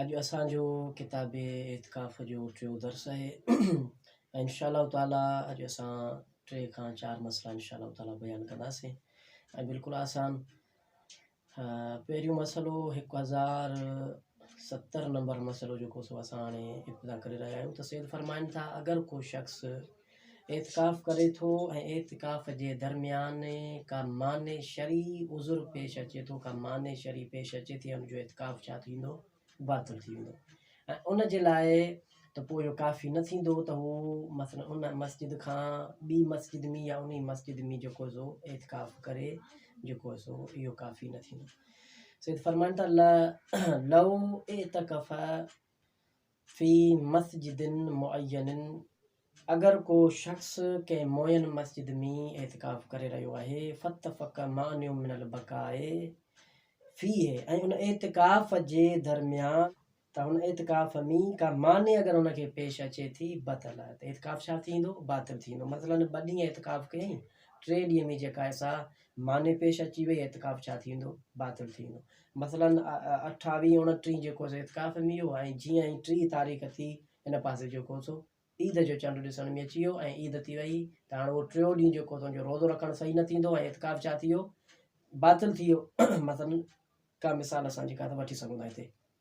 اڄ اسان جو ڪتاب اعتڪاف جو ٽيون درس آهي ۽ انشاء الله تعاليٰ اڄ اسان ٽي کان چار مسئلا انشاء الله تعاليٰ بيان ڪنداسين ۽ بلڪل آسان پهريون مسئلو هڪ هزار ستر نمبر مسئلو جيڪو سو اسان هاڻي ابتدا ڪري رهيا آهيون ته سيد فرمائن ٿا اگر ڪو شخص اعتڪاف ڪري ٿو ۽ اعتڪاف جي درميان ڪا مانع شرعي عذر پيش اچي ٿو ڪا مانع شرعي پيش اچي ٿي ان جو اعتڪاف ڇا ٿيندو باطل ٿي ويندو ۽ ان جي لاء ته پوء اهو ڪافي نه ٿيندو ته هو مثلا ان مسجد کان ٻي مسجد ۾ يا انهي مسجد ۾ جيڪو سو اعتڪاف ڪري جيڪو سو اهو ڪافي نه ٿيندو سيد فرمائن ٿا لو اعتکف في مسجد معينة، اگر ڪو شخص ڪنهن معين مسجد ۾ اعتڪاف ڪري رهيو آهي، فاتفق مانع من البقاء فيه ۽ ان اعتڪاف جي درميان ته ان اعتڪاف ۾ ڪا مانع اگر ان کي پيش اچي ٿي بطل ته اعتڪاف ڇا ٿيندو باطل ٿيندو مثلاً ٻه ڏينهن اعتڪاف ڪيائين ٽي ڏينهن ۾ جيڪا سا معني پيش اچي وئي اعتڪاف ڇا ٿيندو؟ باطل ٿي ويندو. مثلاً اٺاويهه اڻٽيهه جيڪو سو اعتڪاف ۾ ويو ۽ جيئن ئي ٽيهه تاريخ ٿي ان پاسي جيڪو سو عيد جو چنڊ ڏسڻ ۾ اچي ويو ۽ عيد ٿي وئي ته هاڻي اهو ٽيو ڏينهن جيڪو سو ان جو روزو رکڻ صحيح نه ٿيندو ۽ اعتڪاف ڇا ٿي ويو؟ باطل ٿي ويو. مثلاً ڪا مثال اسان جيڪا سا وٺي سگهون ٿا هتي.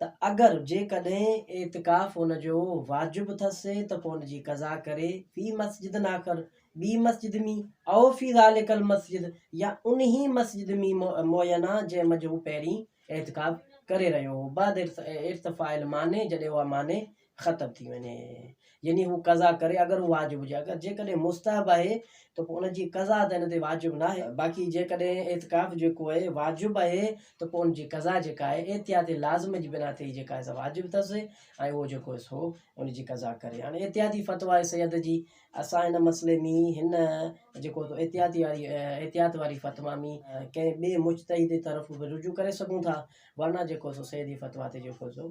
ته اگر جيڪڏهن اعتڪاف ان جو واجب اٿس ته پوء ان جي قضا ڪري في مسجد آخر، ٻي مسجد ۾، او في ذلڪ المسجد يا انهي مسجد ۾ معينه جنهن منجهه هو پهرين اعتڪاف ڪري رهيو هو بعد ارتفاع المانع جڏهن اها مانع ختم ٿي وڃي يعني هو قضا ڪري اگر هو واجب هجي اگر جيڪڏهن مستحب آهي ته پوء ان جي قضا ته هن تي واجب ناهي باقي جيڪڏهن اعتڪاف جيڪو آهي واجب آهي ته پوء ان جي قضا جيڪا آهي احتياط لازم جي بنا تي جيڪا آهي واجب اٿس ۽ اهو جيڪو آهي سو ان جي قضا ڪري هاڻي احتياطي فتويٰ آهي سيد جي اسان هن مسئلي ۾ هن جيڪو احتياطي واري احتياط واري فتويٰ ۾ ڪنهن ٻئي مجتهد طرف به رجوع ڪري سگهون ٿا ورنه جيڪو سو سيد جي فتويٰ تي جيڪو سو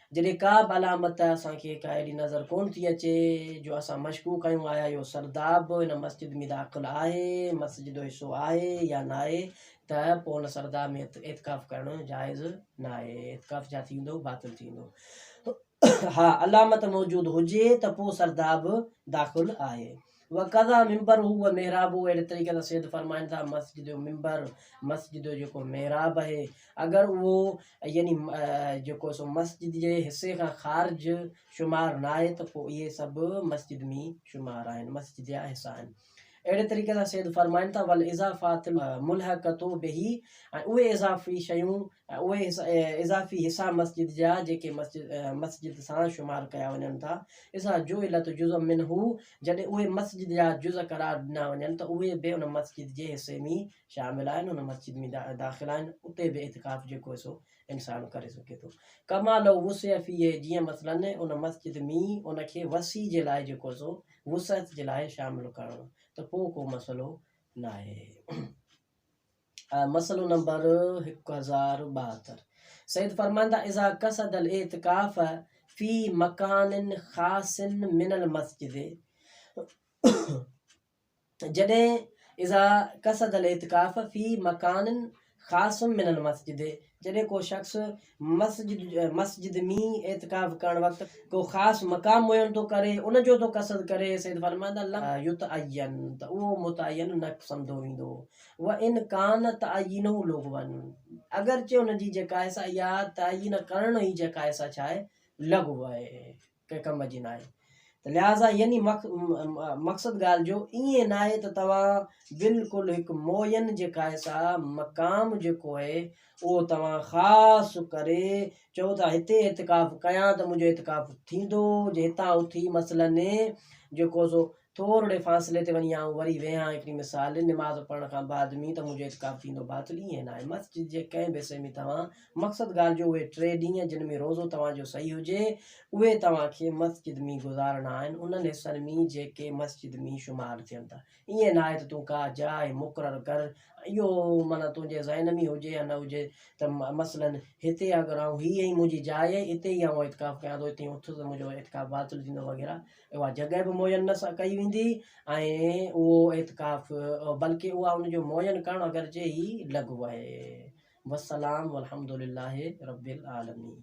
جڏهن ڪا به علامت اسان کي ڪا اهڙي نظر ڪونه ٿي اچي جو اسان مشڪوڪ آهيون آيا اهو سرداب ان مسجد ۾ داخل آهي مسجد جو حصو آهي يا ناهي ته پوء ان سرداب ۾ اعتڪاف ڪرڻ جائز ناهي اعتڪاف ڇا ٿيندو باطل ٿيندو ها علامت موجود هجي ته پوء سرداب داخل آهي وڪذا منبره و محرابه اهڙي طريقي سان سيد فرمائن ٿا مسجد جو منبر مسجد جو جيڪو محراب آهي اگر اهو يعني جيڪو سو مسجد جي حصي کان خارج شمار نه آهي ته پوء اهي سڀ مسجد ۾ شمار آهن مسجد جا حصا آهن اهڙي طريقي سان سيد فرمائن ٿا ول اضافات ملحقتو به ۽ اهي اضافي شيون ۽ اهي اضافي حصا مسجد جا جيڪي مسجد سان شمار ڪيا وڃن ٿا، اذا جعلت جزء منه، جڏهن اهي مسجد جا جزء قرار ڏنا وڃن ته اهي به ان مسجد جي حصي ۾ شامل آهن، ان مسجد ۾ داخل آهن، اتي به اعتڪاف جيڪو هي سو انسان ڪري سگهي ٿو. ڪما لو وسع فيه، جيئن مثلاً ان مسجد ۾ ان کي وسيع جي لاء جيڪو سو وسعت جي لاء شامل ڪرڻ ته پوء ڪو مسئلو ناهي. مسئلو نمبر هڪ هزار ٻاهتر سيد فرمان ٿا اذا قصد الاعتکاف في مکان خاص من المسجد جڏهن اذا قصد الاعتکاف في مکان خاص من المسجد جڏهن ڪو شخص مسجد ۾ اعتڪاف ڪرڻ وقت ڪو خاص مقام معين ٿو ڪري ان جو ٿو قصد ڪري، سيد فرمائن ٿا لم يتعين ته اهو متعين نه سمڌو ويندو وان ڪان تعيينه لغوا اگرچه ان جي جيڪا آهي سا اها تعين ڪرڻ ئي جيڪا آهي سا ڇا آهي لغو آهي. ڪنهن ڪم جي ناهي ته لهٰذا يعني مقصد ڳالهه جو ائين ناهي ته توهان بلڪل هڪ معين جي قائصا مقام جيڪو اهي اهو توهان خاص ڪري چئو ته هتي اعتڪاف ڪيان ته منهنجو اعتڪاف ٿيندو جي هتان اٿي مثلاً جيڪو سو ٿورڙي فاصلي تي وڃي آئون وري ويهان هڪڙي مثال نماز پڙهڻ کان بعد مين ته منهنجو اعتڪاف ٿيندو باطل ائين ناهي مسجد جي ڪنهن به حصي ۾ توهان مقصد ڳالهه جو اهي ٽي ڏينهن جن ۾ روزو توهان جو صحيح هجي اهي توهان کي مسجد مين گذارڻا آهن انهن حصن مين جيڪي مسجد مين شمار ٿين ٿا ائين ناهي ته تون ڪا جاء مقرر ڪر اهو معنيٰ تنهنجي ذهن ۾ هجي يا نه هجي ته مثلاً هتي اگر آئون هي هي منهنجي جاء اتي ئي آئون اعتڪاف ڪيان ٿو اتي اٿس ته منهنجو اعتڪاف باطل ٿيندو وغيره اها جڳهه به معين نه ڪئي ويندي ۽ اهو اعتڪاف بلڪ اها ان جو معين ڪرڻ گهرجي هي لغو آهي والسلام والحمد لله رب العالمين